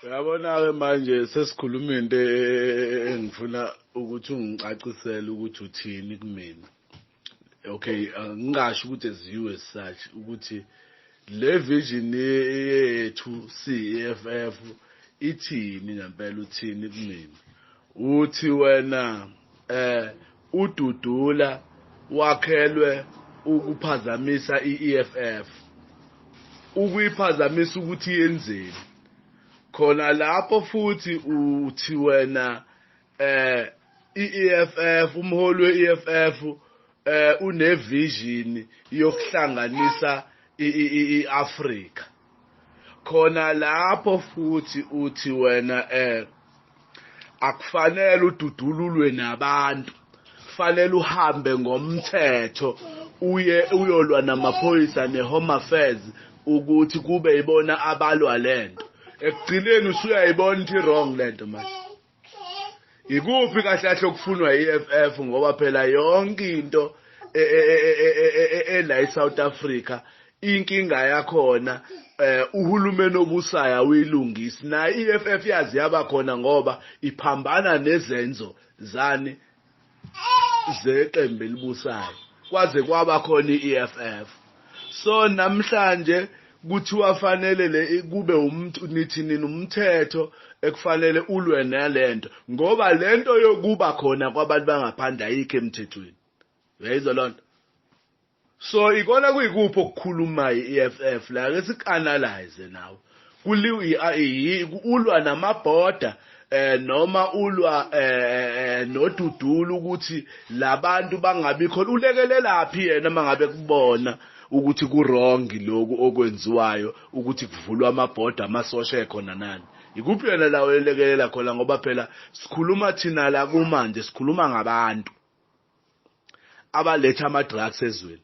uyabona-ke manje sesikhuluma into e, e, e, engifuna ukuthi ungicacisele ukuthi uthini kumina okay ngingasho ukuthi as you as such ukuthi le vision yethu CEFF ithini ngempela uthini kumina uthi wena eh UDudula wakhelwe ukuphazamisa i-EFF. Ukuyiphazamisa ukuthi yenzeni? Khona lapho futhi uthi wena eh i-EFF umholi we-EFF eh unevision yokuhlanganisa i-Africa. khona lapho futhi uthi wena eh akufanele ududululwe nabantu kufanele uhambe ngomthetho uye uyolwa namaphoyisa ne-home affairs ukuthi kube ibona abalwa lento ekugcineni usuyayibona ukuthi wrong lento manje Yikuphi kahle kahle okufunwa i-EFF ngoba phela yonke into ela eSouth Africa inkinga yakhona eh uhulumeni obusayo awuyilungisi na EFF yazi yabakhona ngoba iphambana nezenzo zani zeqembu elibusayo kwaze kwaba khona i-EFF so namhlanje kuthiwa fanele le kube umuntu nithi nini umthetho ekufanele ulwe nalento ngoba lento yokuba khona kwabantu bangaphandle ayikho emthethweni uyayizwa lonto So ikona kuyikuphi okukhulumay i EFF la ake siku analyze nawe kuliw i a i yi ku ulwa nama border eh noma ulwa eh, eh, eh nodudulu ukuthi labantu bangabi khona ulekelelaphi yena mangabe kubona ukuthi ku wrong lokhu okwenziwayo ukuthi kuvulwa ama border amasosha ekhona nani ikuphi yena la oyelekelela khona ngoba phela sikhuluma thina la kumanje sikhuluma ngabantu abaletha ama drugs ezweni.